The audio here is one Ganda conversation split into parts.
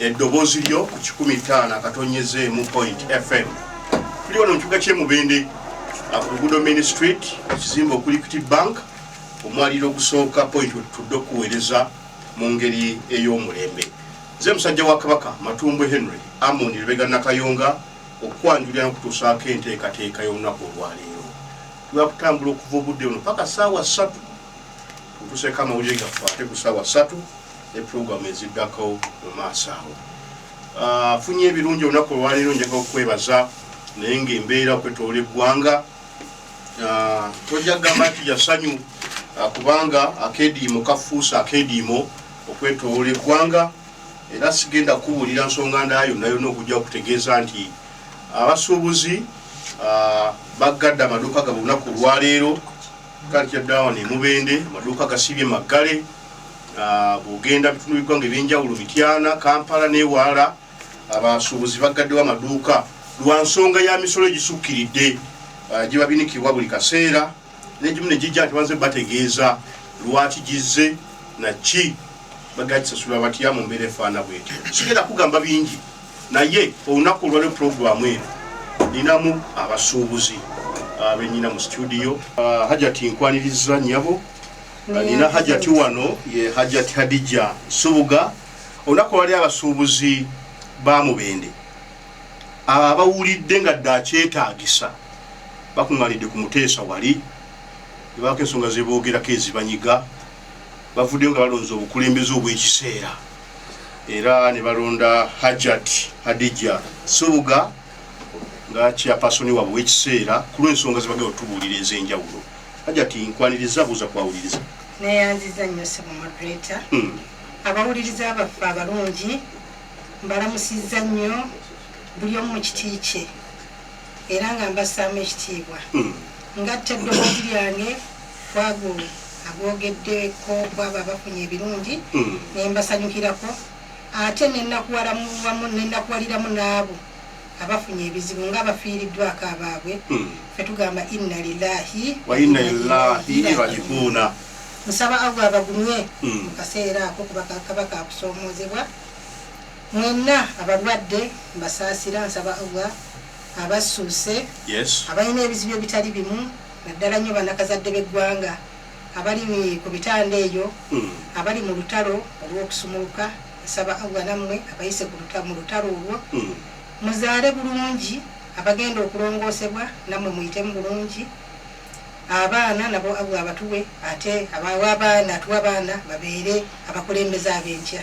eddoboozi lyo ku kikumi ttaano akatonnyeze emu point fm tuli wano mu kibuga ky'emubende ku luguudo main street ekizimba okuli equity bank omwaliro ogusooka point wetutudde okuweereza mu ngeri ey'omulembe nze musajja wa kabaka matumbwe henry amon lubega nakayonga okwanjulira n'okutuusaako enteekateeka y'olunaku olwaleero twakutambula okuva obudde buno paka saawa ssatu tutuseeko amawulire gaffe ate ku saawa ssatu ne program eziddako mu maaso awo ah, afunye ebirungi olunaku olwaleero njaga okukwebaza naye ngaembeera okwetoola eggwanga ah, tojja kugamba nti yasanyu ah, kubanga akediimo kafuusa akediimo okwetoola eggwanga era sigenda kukubuulira nsonga ndala yonna yonna okujja okutegeeza nti abasuubuzi baggadde amaduuka gabwe olunaku olwaleero Culture down emubende amaduuka gasibye maggale ah, bwogenda bitundu biggwanga ebyenjawulo mityana kampala newala abasuubuzi baggaddewo amaduuka lwa nsonga ya misolo egisukkiridde ah, gibabinikibwa buli kaseera negimu negijja nti banze bategeeza lwaki gizze naki bagagisasula batya mu mbeera efaana bwetyo sigenda kugamba bingi naye olunaku olwalio pulogulaamu eno ninamu abasuubuzi abenyina mu situdiyo ah, hajati nkwaniriza nyabo ah, nina hajati wano ye hajati hadija subuga olunaku olwali abasuubuzi ba mubende abo abawulidde nga dde akyetaagisa bakuŋŋanidde ku muteesa wali ebaako ensonga zeboogerako ezibanyiga bavuddeyo nga balonza obukulembeze obw'ekiseera era ne balonda Hajat Hadija Subuga nga chairperson wabwe w'ekiseera ku lw'ensonga ze bagenda otubuulira ez'enjawulo. Hajat nkwaniriza buuza kwawuliriza. Neyanziza nnyo ssebo moderator. Hmm. Abawuliriza baffe abalungi mbalamusizza nnyo buli omu mu kiti kye. era nga mbassaamu ekitiibwa ngatta eddoboozi lyange kwago agoogeddeko kwabo abafunye ebirungi ne mbasanyukirako ate nenakuwaliramu n'abo abafunye ebizibu nga abafiiriddwako abaabwe hmm. fe tugamba inna lilahi waina ilahi rajiuna nsaba allah abagumye hmm. mu kaseera ako kuba kaba kakusoomoozebwa Mwenna abalwadde mbasaasira nsaba Allah abassuuse, abalina ebizibu ebitali bimu naddala nnyo banakazadde b'eggwanga abali ku bitanda eyo, hmm. abali mu lutalo olw'okusumuluka nsaba Allah nammwe abayise mu lutalo olwo hmm. muzaale bulungi abagenda okulongoosebwa nammwe muyitemu bulungi abaana nabo abwe abatuwe ate abawa abaana atuwa abaana babeere abakulembeze ab'enkya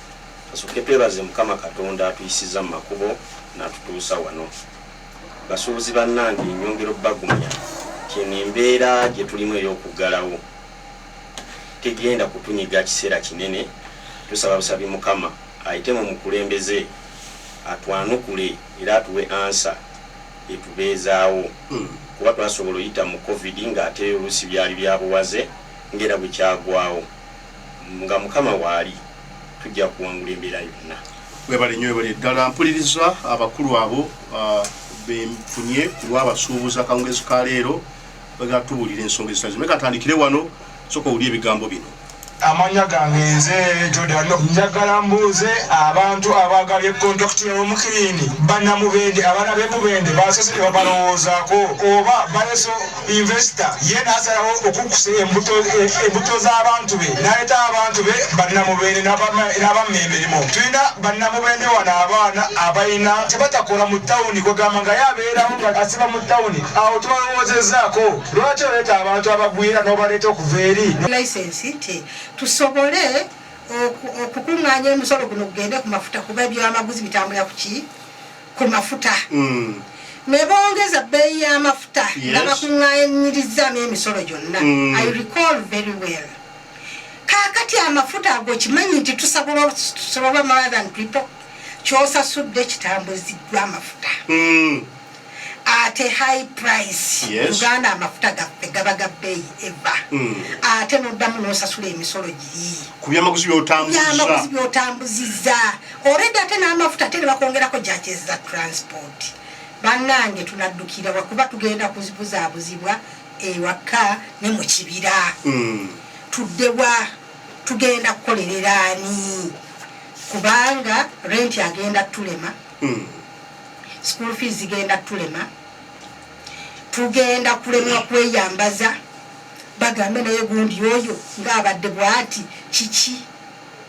Kasooke twebaze mukama katonda atuyisiza mumakubo natutuusa wano basuubuzi banange nyongera obagumya nti eno embeera gyetulimu eyokuggalawo tegenda kutunyiga kiseera kinene tusaba busabi mukama ayite mu mukulembeze atwanukule era atuwe ansa etubeezaawo kuba twasobola oyita mu covid nga ate oluusi byali byabuwaze ngera bwekyagwawo Nga mukama waali tujja kuwangula embeera yonna. Webale nyo webale ddala mpuliriza abakulu abo ah, benfunye kulwabasuubuza kawungezi ka leero bagala tubuulira ensonga ezitazimu naye katandikire wano soka owulire ebigambo bino amanya gange nze jodano njagala mbuuze abantu abagala ekontakiti y'omukilini banamubende abana bemubende basose tebabalowoozaako oba bayeso investor ye nasalawo okukusa embuto embuto z'abantu be naleeta abantu be bannamubende n'abamma emirimu tulina bannamubende wano abaana abalina kyebatakola mu tawuni kwegamba nga ye abeerawo nga asiba mu tawuni awo tubalowoozezaako lwaki oleeta abantu abagwira n'obaleeta okuva eri license nti tusobole okukuŋŋaanya omusolo guno gugende ku mafuta kuba ebyamaguzi bitambula kuki ku mafuta mm. ne bongeza bbeeyi y'amafuta nga bakuŋŋaanyirizaamu emisolo gyonna mm. i recall very well kaakati amafuta ago kimanyi nti tusabola more than people kyosasudde kitambuziddwa amafuta mm. ate high price uganda amafuta gaffe gaba ga bbeeyi eva mm. ate noddamu nosasula emisolo giri ku byamaguzi byotambuzizza Already ate n'amafuta ate ne bakwongerako judges za transport. Bannange tunaddukira wa kuba tugenda kuzibuzaabuzibwa ewaka ne mu kibira. Hmm. Tudde wa tugenda kukolerera ani? Kubanga renti agenda tulema. Hmm. School fees zigenda tulema. Tugenda kulemwa kweyambaza. Bagambe naye gundi oyo ng'abadde bwati kiki?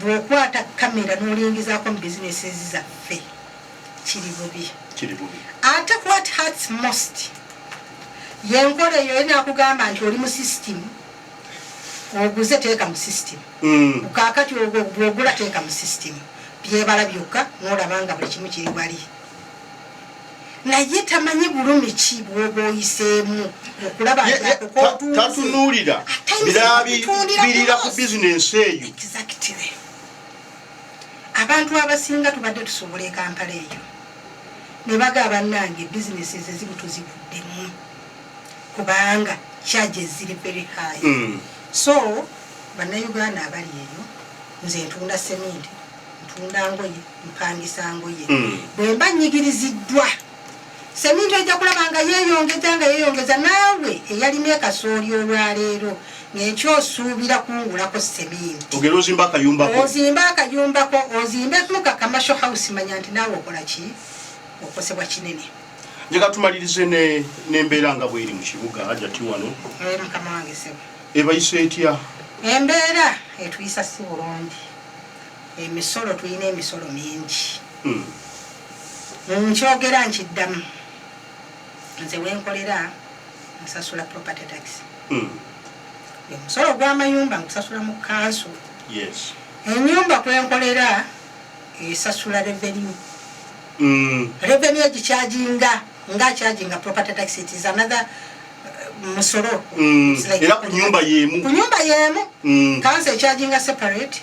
Bwokwata camera nolingizaako mu businesses zaffe kiri bubi. Kiri bubi. Ate what hurts most yenkola eyo ye nakugamba nti oli mu system oguze teeka mu system mm. kakati bwogula teeka mu system byebala byokka nolaba nga buli kimu kiri wali naye tamanyi bulumi ki bwoba oyiseemu okulabatatunulira birabibirira ku bizinensi eyo abantu abasinga tubadde tusobola ekampala eyo nebaga abanange bizinesi ezezibu tuziguddemu kubanga kyaja eziri very high mm. so bannayuganda abali eyo nze ntunda seminti ntunda ngoye mpangisa ngoye hmm. bwemba nyigiriziddwa semintu ejja kulaba nga yeyongeza nga yeyongeza naawe eyalina ekasooli olwaleero nenkyo osuubira kungulako seminti ozimba akayumbako ozimbe muka kamasho house manya nti naawe okola ki okosebwa kinene njega tumalirize nembeera nga bweri mu kibuga ajati wano eh, mukama wange sebo ebayisa etya embeera etuyisa si bulungi Emisolo tulina emisolo mingi. Nkyogera nkiddamu, nze we nkolera nsasula property tax. Omusolo gw'amayumba ngusasula mu kkanso. Ennyumba kwe nkolera esasula revenue. Revenue egikyajinga nga akyajinga property tax, it is another musolo. Era ku nnyumba y'emu. Ku nnyumba y'emu, kkanso ekyajinga separate.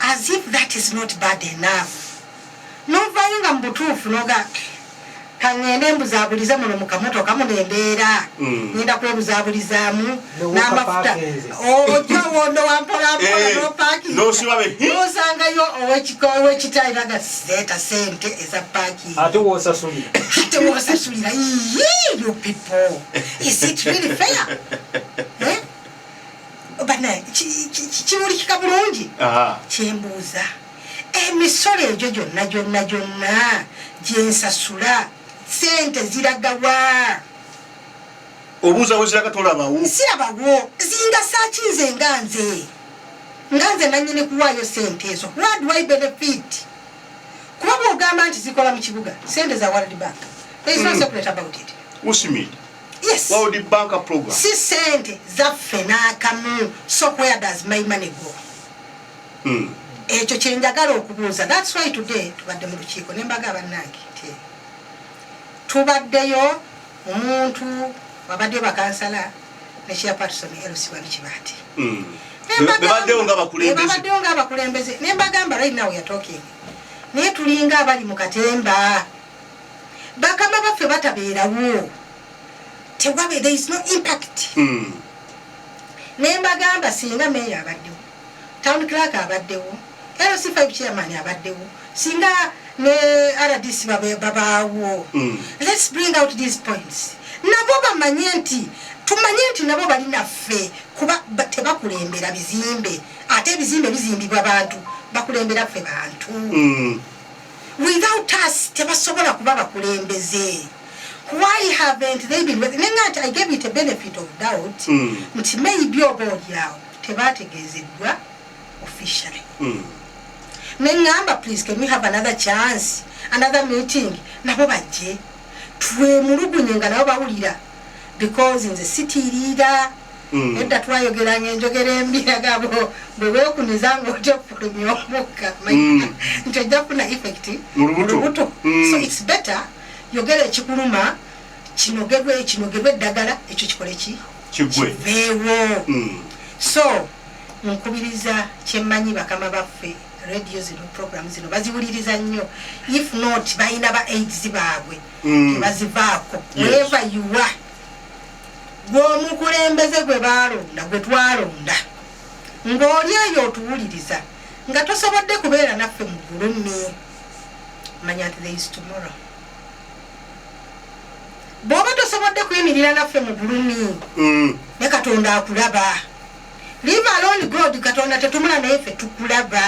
as if that is not bad enough novayo nga mubutuufu noga kaŋŋende mbuzabulize muno mu kamotoka muno embeera mm. ŋenda kwebuzabulizaamu n'amafuta ojja owondo wampolampolaosangayo eh, owekita era nga seeta sente eza pakinate wosasulira you people is it really fair eh? banaye kimulikika bulungi kyembuuza emisolo egyo gyonna gyonna gyonna gyensasula sente ziragawa obuuza weziraga tolabawo sirabawo zingasaki nze nga nze nga nze nanyini kuwaayo sente ezo what do i benefit kuba bwogamba nti zikola mu kibuga sente za world bank there is no hmm. secret about it usimid yes world bank program si sente zaffe nakamu so where does my money go mm. ekyo kyenjagala okubuuza thats why today tubadde mu lukiiko nembaga abannange nti tubaddeyo omuntu wabadde bakansala ne chairperson lc wali kibaati hmm. bebaddewo nga abakulembeze nembagamba right now weare talking naye tulinga abali mu katemba bakama baffe batabeerawo tewabe there is no impact mm. ne mbagamba singa meeyo abaddewo town clark abaddewo lc5 chairman abaddewo singa ne rdc babaawo mm. let's bring out these points nabo bamanye nti tumanye nti nabo bali naffe kuba tebakulembera bizimbe ate ebizimbe bizimbibwa bantu bakulembera ffe bantu mm. without us tebasobola kuba bakulembeze why haven't they been with me not i gave it a benefit of doubt hmm. nti mm. maybe oba olyawo tebategeezeddwa officially mm. ne ngamba please can we have another chance another meeting nabo bajje twemulugunye nga nabo bawulira because nze sitiiriira mm. edda twayogeranga enjogera embi agabo bwe weekuniza ng'otya okufulumya omukka mm. nti ojja kufuna effect mu lubuto mm. so its better yogera ekikuluma kinogerwe kinogerwe eddagala ekyo kikole ki kiveewo so nkubiriza kyemmanyi bakama baffe radio zino program zino baziwuliriza nnyo if not balina ba aids baabwe mm. tebazivaako weva yuwa gweomukulembeze gwe balonda gwe twalonda ng'oli eyo otuwuliriza nga tosobodde kubeera naffe mu ggulu mi manya nti theis tomorrow bw'oba tosobodde kuyimirira naffe mu ggulu mi mm. ne katonda akulaba live alone god katonda tetumula naye fe tukulaba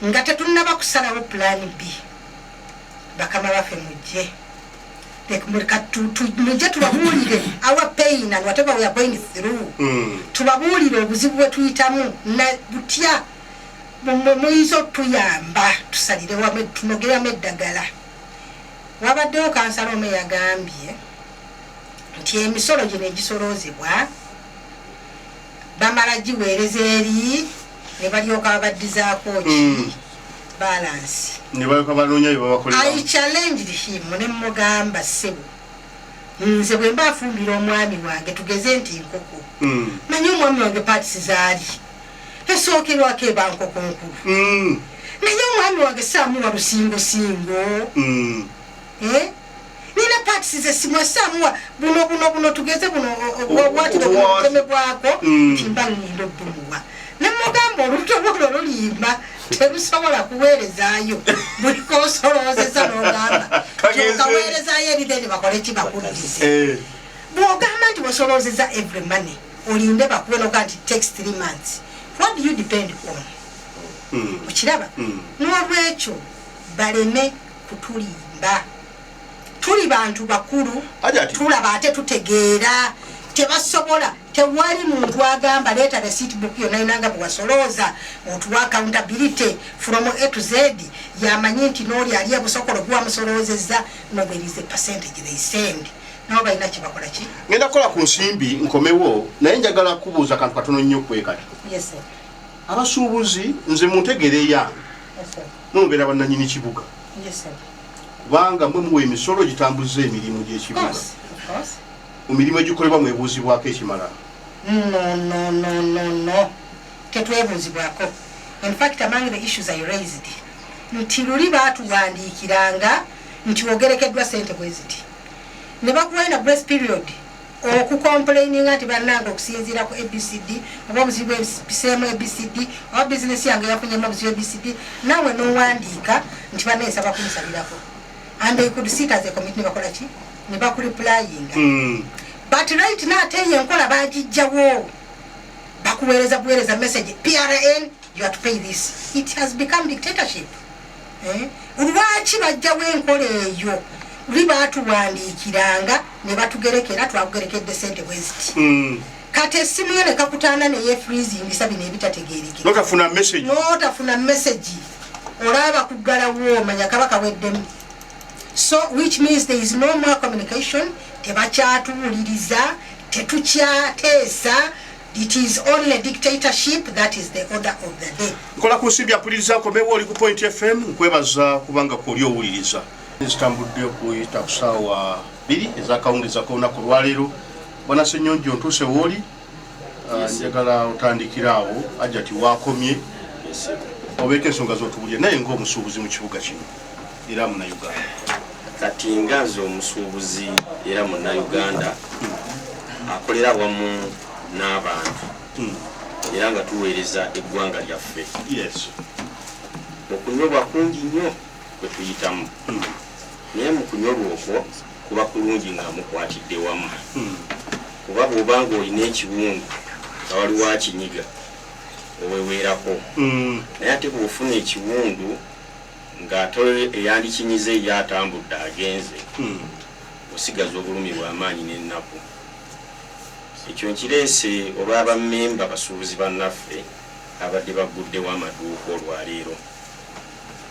nga tetunaba kusalawo pulani bii bakama baffe mujje mujje tubabuulire our pain and whatever we are going through mm. tubabuulire obuzibu bwetuyitamu na butya muyinza otuyamba tusalire wamu tunogeramu eddagala wabaddewo kansala omu eyagambye nti emisolo gino egisoloozebwa bamala giweereza eri ne balyoka babaddizaako ki hmm. balansi ne balyoka banoonya bye babakolera i challenged him ne mmugamba ssebo nze bwe mba afumbira omwami wange tugeze nti nkoko hmm. manye omwami wange paatisi zaali esookerwako eba nkoko nkulu hmm. naye omwami wange saamuwa lusingosingo eh? nina parts ze simwa samwa buno buno buno tugeze buno obwati do kome bwako mm. timba ngindo bumuwa ne mugambo oluto buno lulimba terusobola kuwerezayo buli kosoloze za nogamba kawerezayo ebideni bakole kibakulize eh. bwogamba nti bosoloze za every money olinde bakube noga nti takes three months what do you depend on mm. okiraba mm. nolwekyo baleme kutulimba tuli bantu bakulu tulaba ate tutegeera tebasobola tewali muntu agamba leeta receipt book yonna yona nga bwewasolooza otuwa accountability from a to z yamanyi nti nooli ali ebusokolo gwewamusoloozezza nobwerize percentage they send nabo balina kyebakola ki ngenda kukola ku nsimbi nkomewo naye njagala kubuuza kantu katono nnyo kwekati abasuubuzi nze muntegereya mwe mubeera bannanyini kibuga kubanga mwe muwa emisolo gitambuza emirimu gy'ekibuga mu mirimu egikolebwa mwebuuzibwako ekimala tetwebuuzibwako infact among the issues i raised nti luli baatuwandiikiranga nti wogerekeddwa sente bweziti ne bakuwaina grace period oku complaininga nti banange okusinziira ku abcd oba obuzibu ebiseemu abcd oba bizinesi yange yafunyemu obuzibu abcd nawe nowandiika nti bana nsaba kunsalirako and they could sit as a committee nebakola ki nebakuriplayinga hmm. but right now ate eyo enkola bagijjawo bakuweereza buweereza message prn you are to pay this it has become dictatorship Eh? lwaki bajjawo enkola eyo luli batuwandiikiranga ne batugerekera twakugerekedde sente bweziti hmm. kati essimu yo nekakutaana neye freezingisa bino ebitategeerekenotafuna mesagi olaba kuggalawo omanya kaba kaweddemu so which means there is no more communication tebakyatuwuliriza tetukyateesa It is only a dictatorship that is the order of the day. Nkola ku nsimbi apuliriza akomewo oli ku Point FM nkwebaza kubanga kwoli owuliriza. Zitambudde okuyita ku ssaawa bbiri ezakawungeeza k'olunaku olwaleero. Bwana Ssenyonjo ntuuse wooli ah, njagala otandikira awo ajati waakomye obeeko ensonga z'otubulira naye ng'omusuubuzi mu kibuga kino. era munauganda kati nga nze omusuubuzi era munauganda akolera wamu n'abantu hmm. era nga tuweereza eggwanga lyaffe okunyolwa kungi nnyo kwe tuyitamu hmm. naye mu kunyolwa okwo kuba kulungi nga mukwatidde wamu hmm. kuba bw'oba nga olina ekiwundu nga waliwo akinyiga oweweerako naye ate bw'ofuna ekiwundu Nga toli eyandikinyize ye atambudde agenze, osigaza obulumi bwa maanyi n'ennaku. Ekyo nkireese olwa bammemba basuubuzi bannaffe ababadde bagguddewo amaduuka olwaleero.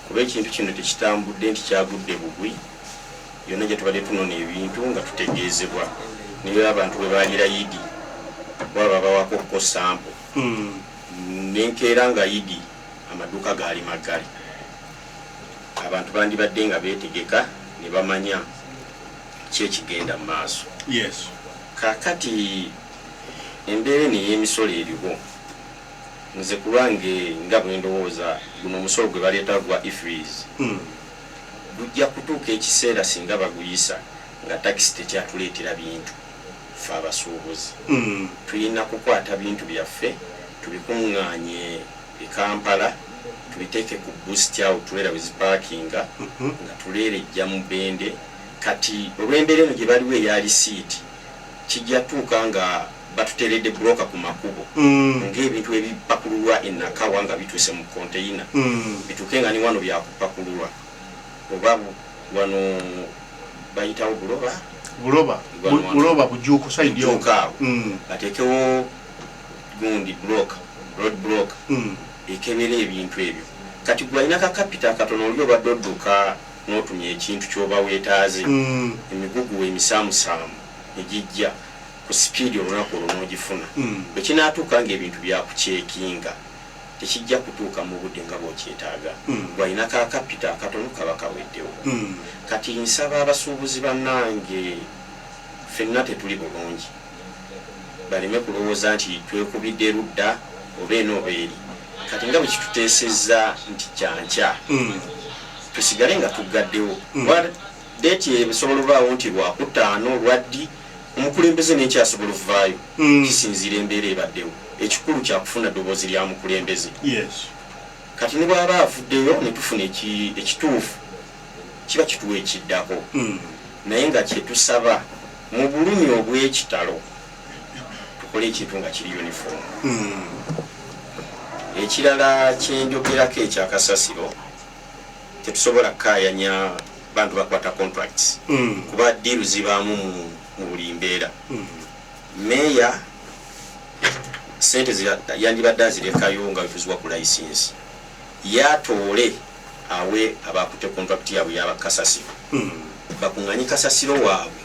Kuba ekintu kino tekitambudde nti kyagudde bugwi, yonna gye tubadde tunona ebintu nga tutegeezebwa ne bwe abantu bwe baliira Idi kuba babawako ko sampo ne nkeera nga Idi amaduuka gaali maggale, abantu bandibadde nga beetegeka ne bamanya ki ekigenda mu maaso. Kaakati embeera eno ey'emisolo eriwo, nze ku lwange nga bwe ndowooza, guno omusolo gwe baleeta ogwa IFRIS gujja kutuuka ekiseera singa baguyisa nga takisi tekyatuleetera bintu. Ffe abasuubuzi tulina kukwata bintu byaffe tubikungaanye e Kampala tubiteeke ku bust awo trailer we zipaakinga nga tuleera ejja Mubende kati olw'embeera eno gye baliwo eya lisiiti kijja tuuka nga batuteeredde broka ku makubo ng'ebintu bwe bipakululwa e Nakawa nga bituuse mu konteyina bituuke nga ne wano byakupakululwa. Oba wano bayitawo buloba buloba buloba bujuuko side yo awo mm. batekewo gundi block road block mm. ekebera ebintu ebyo kati gwalina ka kapita katono oli obadde odduka n'otumya ekintu kyoba weetaaze mm. emigugu emisaamusaamu egijja ku sipiidi olunaku olwo n'ogifuna bwe kinaatuuka ng'ebintu byakuceekinga tekijja kutuuka mu budde nga bw'okyetaaga. Ggwe alina ka kapito akatono kaba kaweddewo. Kati nsaba abasuubuzi bannange ffenna tetuli bulungi baleme kulowooza nti twekubidde ludda oba eno oba eri. Kati nga bwe kituteesezza nti kya nkya tusigale nga tuggaddewo. Date eyo esobola obaawo nti lwakutaano, lwaddi, omukulembeze n'enki asobola ovvaayo kisinziira embeera ebaddewo. Ekikulu kyakufuna ddoboozi lya mukulembeze. Kati ne bwaba avuddeyo ne tufuna ekituufu kiba kituwa ekiddako. Naye nga kye tusaba mu bulumi obw'ekitalo tukole ekintu nga kiri uniform. Ekirala kye njogerako ekya kasasiro Tetusobola kukaayanya bantu bakwata contracts kuba ddiiru zibaamu mu buli mbeera. Mmeeya ssente ze yandibadde azirekayo nga bwe tuziwa ku layisinsi, ye atoole awe abaakutte kontulakiti yaabwe eya bakasasiro bakung'anye kasasiro waabwe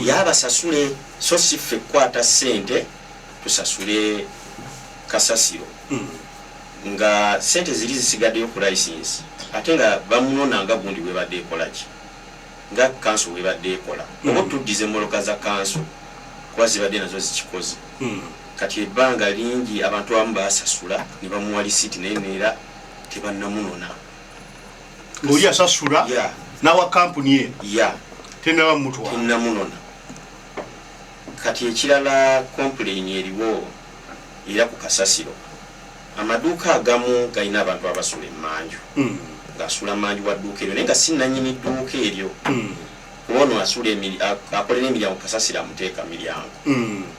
ye abasasule so si ffe kukwata ssente tusasule kasasiro. nga sente zili zisigadeyo ku license ate nga bamunona nga gundi bwebadde ekolaki nga council bwebadde ekola oba otuddize moloka za council kuba zibadde nazo zikikoze kati ebanga lingi abantu abamu basasula nebamuwa lisiti naye nera tebanamunona oli asasula yeah. nawa kampuni ye yeah. tenaba mutwa tenamunona kati ekirala complain eriwo era ku kasasiro Amaduuka agamu galina abantu abasula emmanju ng'asula mmanju wa dduuka eryo naye nga si nnannyini dduuka eryo kuba ono asula emiri, akolera emiryango kasasiro amuteeka miryango.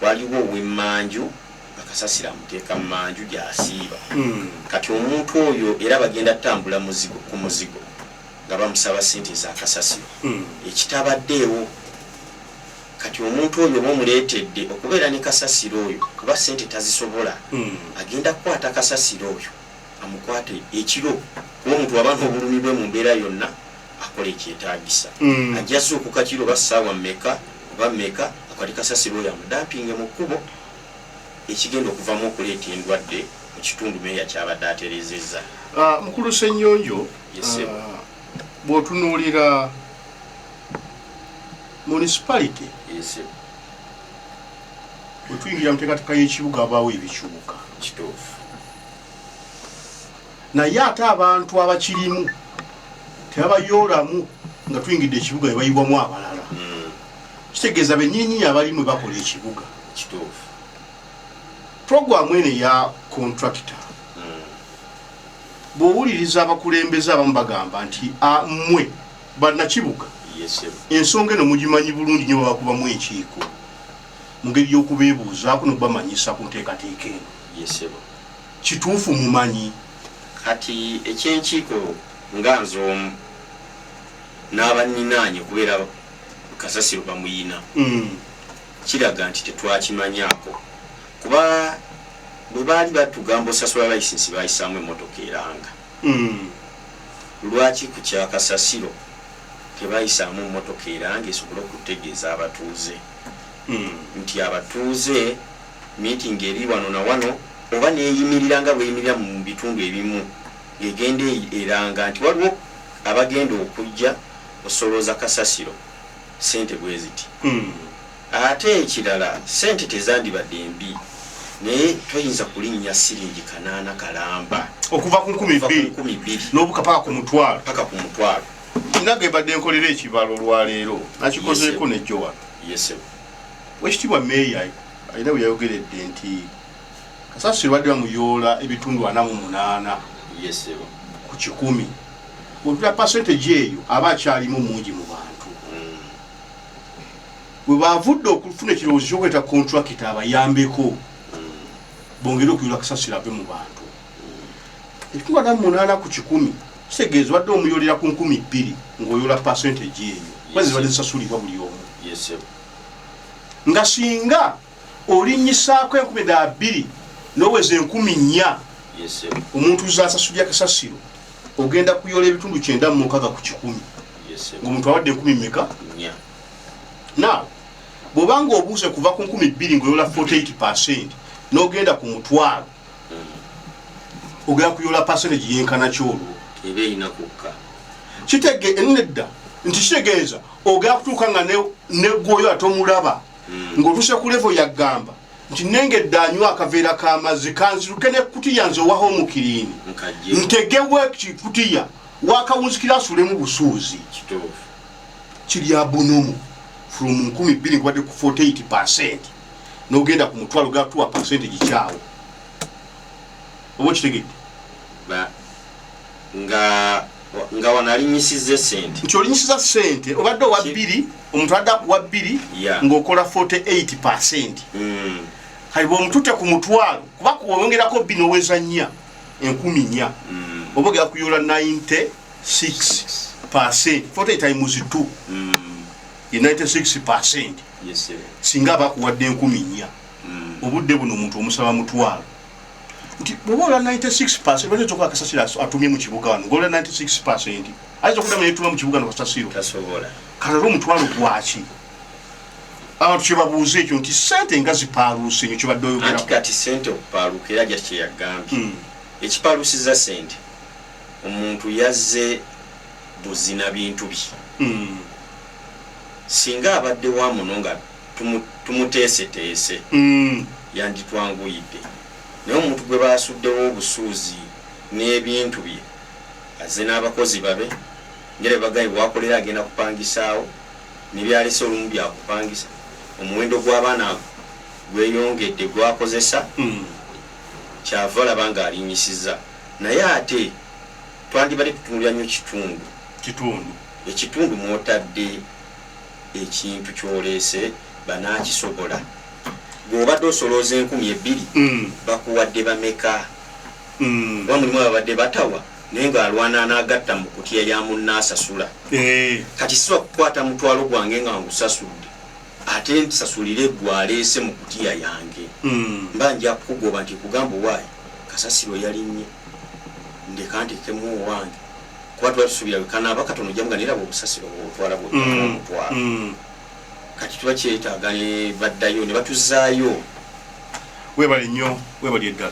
Waliwo ow'emmanju nga kasasiro amuteeka mmanju gy'asiiba. Kati omuntu oyo era bagenda kutambula muzigo ku muzigo nga bamusaba ssente za kasasiro ekitabaddeewo. Kati omuntu oyo oba omuleetedde okubeera ne kasasiro oyo kuba ssente tazisobola, agenda kukwata kasasiro oyo amukwate ekiro kuba omuntu bw'aba n'obulumi bwe mu mbeera yonna akola ekyetaagisa. Ajja zuukuka kiro oba ssaawa mmeka oba mmeka akwate kasasiro oyo amudampinge mu kkubo ekigenda okuvaamu okuleeta endwadde mu kitundu, Meeya ky'abadde atereezezza. Mukulu Ssenyonjo, bwotunuulira municipality wetuyingira muteekateeka y'ekibuga abaawo ebikyuka kituufu naye ate abantu abakirimu tebabayoolamu nga tuyingidde ekibuga ebayiwamu abalala hmm. kitegeeza benyininyini abalimu bakola ekibuga kituufu programu eno eya contractor Bw'owuliriza abakulembeze abamu bagamba nti, A, mmwe Bannakibuga ensonga eno mugimanyi bulungi nnyo babakubamu enkiiko mu ngeri y'okubeebuuzaako n'okubamanyisa ku nteekateeka eno. Kituufu mumanyi? Kati eky'enkiiko nga nze omu n'abanninaanye okubeera kasasiro bamuyina, kiraga nti tetwakimanyaako kuba bwe baali batugamba osasula layisinsi baayisaamu emmotoka eranga, lwaki ku kya kasasiro tebayisaamu mmotoka eranga esobole okutegeeza abatuuze nti abatuuze miitingi eri wano na wano oba n'eyimirira nga bw'eyimirira mu bitundu ebimu ng'egenda eranga nti waliwo abagenda okujja osolooza kasasiro ssente bwe ziti. Ate ekirala ssente tezandibadde mbi naye toyinza kulinnya ssiringi kanaana kalamba. Okuva ku nkumi bbiri n'obuka paka ku mutwalo. Paka ku mutwalo. Nina ge mbadde nkolera ekibalo olwaleero nakikozeeko ne jjo wano. Ye ssebo. Owekitiibwa Meeya alina bwe yayogeredde nti. Kasasiro badde bamuyoola ebitundu ana mu munaana ku kikumi otula pasenteji eyo aba akyalimu mungi mu bantu mm. we bavudde okufuna ekirowoozo kyokuleeta kontrakita abayambeko mm. bongere okuyoola kasasiro ave mu bantu mm. ebitundu ana mu munaana ku kikumi kitegeeza obadde omuyoolera ku nkumi bbiri ng'oyoola pasenteji eyo kwezibadde zisasulibwa buli omu nga singa olinnyisaako enkumi dda bbiri n'oweza enkumi nnya omuntu zasasulira kasasiro ogenda kuyola ebitundu kyenda mu mukaga ku kikumi ngaomuntu awadde enkumi meka na bwobanga obuuse kuva ku nkumi bbiri ngaoyola 48 percent n'ogenda ku mutwalo mm. ogenda kuyola percentage yenkana kyolwo kitege enedda nti kitegeeza ogenda kutuuka nga negwoyo ate omulaba mm. ng'otuuse ku levo yagamba nti nengedde anywa akaveera k'amazzi kanziruke nekutiya nze owaho omukirini ntegewo ekikutiya wakawunzikira asulemu busuuzi kiri abunumu from 12 kubadde ku 48 percent nogenda ku mutwalo gatuwa percent gikyawo oba okitegedde nga nga wano alinyisiza esente nti olinyisiza sente obadde owa bbiri omuntu adda kuwa bbiri ng'okola 48 percent mm. kali bwomutute ku mutwalo kuba kuwongerako bbi noweza nnya enkumi nnya mm. oba ogera kuyola 96 percent 40 times 2 mm. ye 96 percent singa aba akuwadde enkumi nnya obudde buno omuntu omusaba mutwalo nti bwoba ola 96 percent lwaki ozokuba kasasira atumye mu kibuga wano ngaola 96 percent ayinza okuddamu yetuma mu kibuga nobasasiro kalala omutwalo gwaki abantu kyebabuuza ekyo nti sente nga zipaaluuse nyo kibadde oyogerakati sente okupaaluuka era ja kyeyagambye hmm. ekipaaluusiza sente omuntu yazze buzina bintu bye hmm. singa abadde wa muno nga tumuteeseteese hmm. yanditwanguyidde naye omuntu gwe basuddewo obusuuzi n'ebintu bye Azze n'abakozi babe ngera bwe bagambye bw'akolera agenda kupangisaawo ne by'alese olumu bya kupangisa. Omuwendo gw'abaana gweyongedde gw'akozesa ky'ava olaba ng'alinnyisizza naye ate twandibadde tutunuulira nnyo kitundu ekitundu mw'otadde ekintu ky'oleese banaakisobola. Ggwe obadde osolooza enkumi ebbiri bakuwadde bameka? Kuba mulimu ababadde batawa naye nga alwana anagatta mu kutiya ya munne asasula. Kati sisobola kukwata mutwalo gwange nga ngusasudde ate nsasulire gwe aleese mu kutiya yange. Mba nja kukugoba nti nkugamba owaaye kasasiro yalinnye. Ndeka nteekemu owange kuba tuba tusuubira bwe kanaaba katono ojja kumugamba naye laba obusasiro bw'otwala bw'otaana omutwalo. Kati tuba kyetaaga ne baddayo ne batuzaayo. Weebale nnyo. Weebalye ddala.